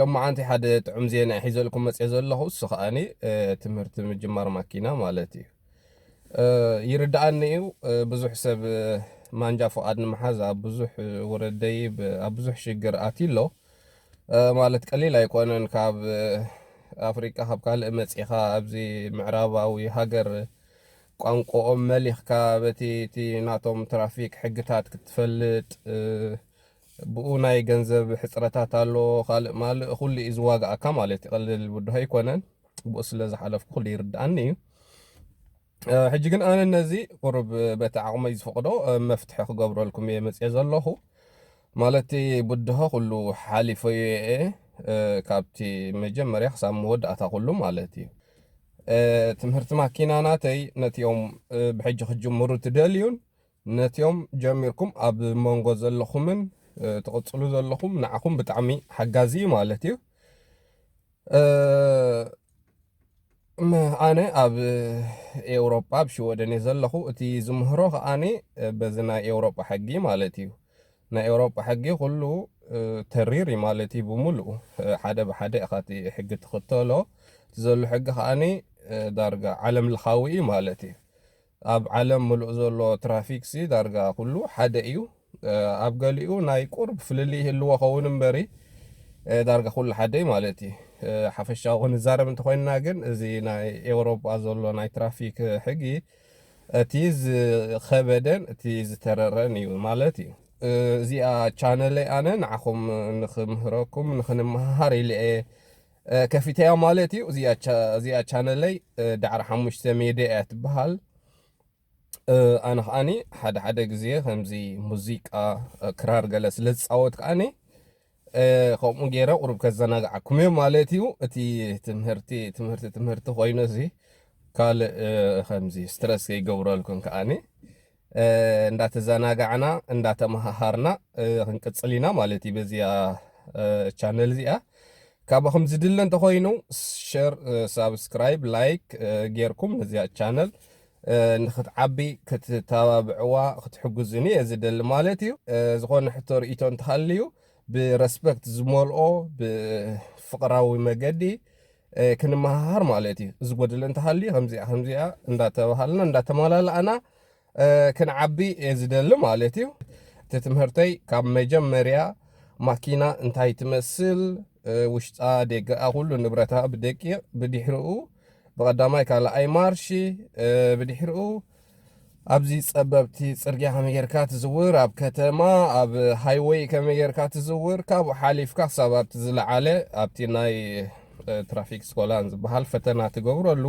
ሎማዓንቲ ሓደ ጥዑም ዜና እየ ሒዘልኩም መፅየ ዘለኹ እሱ ከዓኒ ትምህርቲ ምጅማር ማኪና ማለት እዩ ይርድኣኒ እዩ ብዙሕ ሰብ ማንጃ ፍቓድ ንምሓዝ ኣብ ብዙሕ ውረድ ደይብ ኣብ ብዙሕ ሽግር ኣትዩ ኣሎ ማለት ቀሊል ኣይኮነን ካብ ኣፍሪቃ ካብ ካልእ መፂኻ ኣብዚ ምዕራባዊ ሃገር ቋንቋኦም መሊኽካ በቲ እቲ ናቶም ትራፊክ ሕግታት ክትፈልጥ ብኡ ናይ ገንዘብ ሕጽረታት ኣሎ ካልእ ማልእ ኩሉ እዩ ዝዋግኣካ ማለት እዩ ቀልል ብድሆ ኣይኮነን ብኡ ስለ ዝሓለፍኩ ኩሉ ይርድኣኒ እዩ ሕጂ ግን ኣነ ነዚ ቁርብ በቲ ዓቕመይ ዝፈቕዶ መፍትሒ ክገብረልኩም እየ መጽኤ ዘለኹ ማለቲ ብድሆ ኩሉ ሓሊፈዮ እየ ካብቲ መጀመርያ ክሳብ መወዳእታ ኩሉ ማለት እዩ ትምህርቲ ማኪና ናተይ ነቲኦም ብሕጂ ክጅምሩ ትደልዩን ነትዮም ጀሚርኩም ኣብ መንጎ ዘለኹምን ትቕጽሉ ዘለኹም ንዓኹም ብጣዕሚ ሓጋዚ እዩ ማለት እዩ ኣነ ኣብ ኤውሮጳ ኣብ ሽወደን እየ ዘለኹ እቲ ዝምህሮ ከዓኒ በዚ ናይ ኤውሮጳ ሕጊ ማለት እዩ ናይ ኤውሮጳ ሕጊ ኩሉ ተሪር እዩ ማለት እዩ ብምሉኡ ሓደ ብሓደ ኢኻ እቲ ሕጊ ትኽተሎ እቲ ዘሎ ሕጊ ከዓኒ ዳርጋ ዓለም ለኻዊ እዩ ማለት እዩ ኣብ ዓለም ምሉእ ዘሎ ትራፊክሲ ዳርጋ ኩሉ ሓደ እዩ። ኣብ ገሊኡ ናይ ቁርብ ፍልልይ ይህልዎ ኸውን እምበሪ ዳርጋ ኩሉ ሓደ እዩ ማለት እዩ። ሓፈሻዊ ክንዛረብ እንተኾይንና ግን እዚ ናይ ኤውሮጳ ዘሎ ናይ ትራፊክ ሕጊ እቲ ዝኸበደን እቲ ዝተረረን እዩ ማለት እዩ። እዚኣ ቻነለይ ኣነ ንዓኹም ንኽምህረኩም ንኽንመሃሃር ኢለ እየ ከፊተያ ማለት እዩ እዚኣ ቻነለይ ዳዕሮ ሓሙሽተ ሜድያ እያ ትበሃል ኣነ ከዓኒ ሓደ ሓደ ግዜ ከምዚ ሙዚቃ ክራር ገለ ስለ ዝፃወት ከዓኒ ከምኡ ገይረ ቁሩብ ከዘናግዓኩም እየ ማለት እዩ እቲ ትምህርቲ ትምህርቲ ትምህርቲ ኮይኑ እዚ ካልእ ከምዚ ስትረስ ከይገብረልኩም ከዓኒ እንዳተዛናጋዕና እንዳተማሃሃርና ክንቅጽል ኢና ማለት እዩ በዚኣ ቻነል እዚኣ ካባኹም ዝድለ እንተኾይኑ ሸር ሳብስክራይብ ላይክ ጌርኩም ነዚኣ ቻነል ንክትዓቢ ክትተባብዕዋ ክትሕግዙኒ እየ ዝደሊ ማለት እዩ ዝኾነ ሕቶ ርእቶ እንተሃልዩ ብረስፐክት ዝመልኦ ብፍቕራዊ መገዲ ክንመሃሃር ማለት እዩ። እዚ ጎደለ እንተሃልዩ ከምዚኣ ከምዚኣ እንዳተባሃልና እንዳተመላላእና ክንዓቢ እየ ዝደሊ ማለት እዩ። እቲ ትምህርተይ ካብ መጀመርያ ማኪና እንታይ ትመስል ውሽጣ ደገኣ ኩሉ ንብረታ ብደቂቕ ብድሕሪኡ ብቐዳማይ ካልኣይ ማርሺ ብድሕሪኡ ኣብዚ ጸበብቲ ጽርግያ ከመይ ጌርካ ትዝውር፣ ኣብ ከተማ ኣብ ሃይወይ ከመይ ጌርካ ትዝውር፣ ካብኡ ሓሊፍካ ክሳብ ኣብቲ ዝለዓለ ኣብቲ ናይ ትራፊክ ስኮላን ዝበሃል ፈተና ትገብረሉ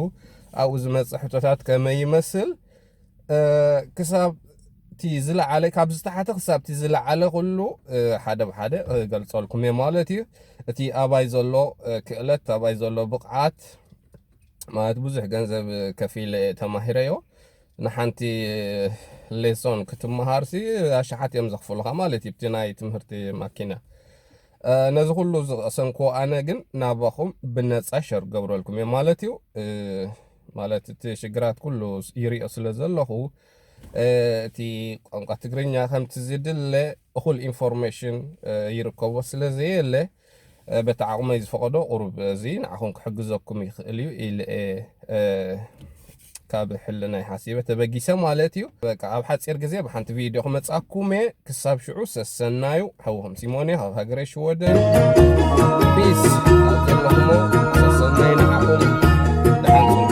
ኣብኡ ዝመጽእ ሕቶታት ከመይ ይመስል ክሳብ እቲ ዝለዓለ ካብ ዝተሓተ ክሳብ እቲ ዝለዓለ ኩሉ ሓደ ብሓደ ገልጸልኩም እየ ማለት እዩ እቲ ኣባይ ዘሎ ክእለት ኣባይ ዘሎ ብቕዓት ማለት ብዙሕ ገንዘብ ከፊለ ተማሂረዮ ንሓንቲ ሌሶን ክትመሃርሲ ኣሽሓት እዮም ዘኽፍሉኻ ማለት እዩ ብቲ ናይ ትምህርቲ ማኪና ነዚ ኩሉ ዝቐሰንኩ ኣነ ግን ናባኹም ብነፃ ሸር ገብረልኩም እየ ማለት እዩ ማለት እቲ ሽግራት ኩሉ ይሪኦ ስለ ዘለኹ እቲ ቋንቋ ትግርኛ ከምቲ ዝድለ እኹል ኢንፎርሜሽን ይርከቦ ስለ ዘየለ በቲ ዓቕመይ ዝፈቐዶ ቁሩብ እዚ ንዓኹም ክሕግዘኩም ይኽእል እዩ ኢለ'የ ካብ ሕልናይ ሓሲበ ተበጊሰ ማለት እዩ። በቃ ኣብ ሓጺር ግዜ ብሓንቲ ቪድዮ ክመጻኩም እየ። ክሳብ ሽዑ ሰሰናዩ ሓውኹም ሲሞን እየ ካብ ሃገረ ሽወደን። ፒስ ኣብ ዘለኹሞ ሰሰናዩ ንዓኹም ደሓን ኩኑ።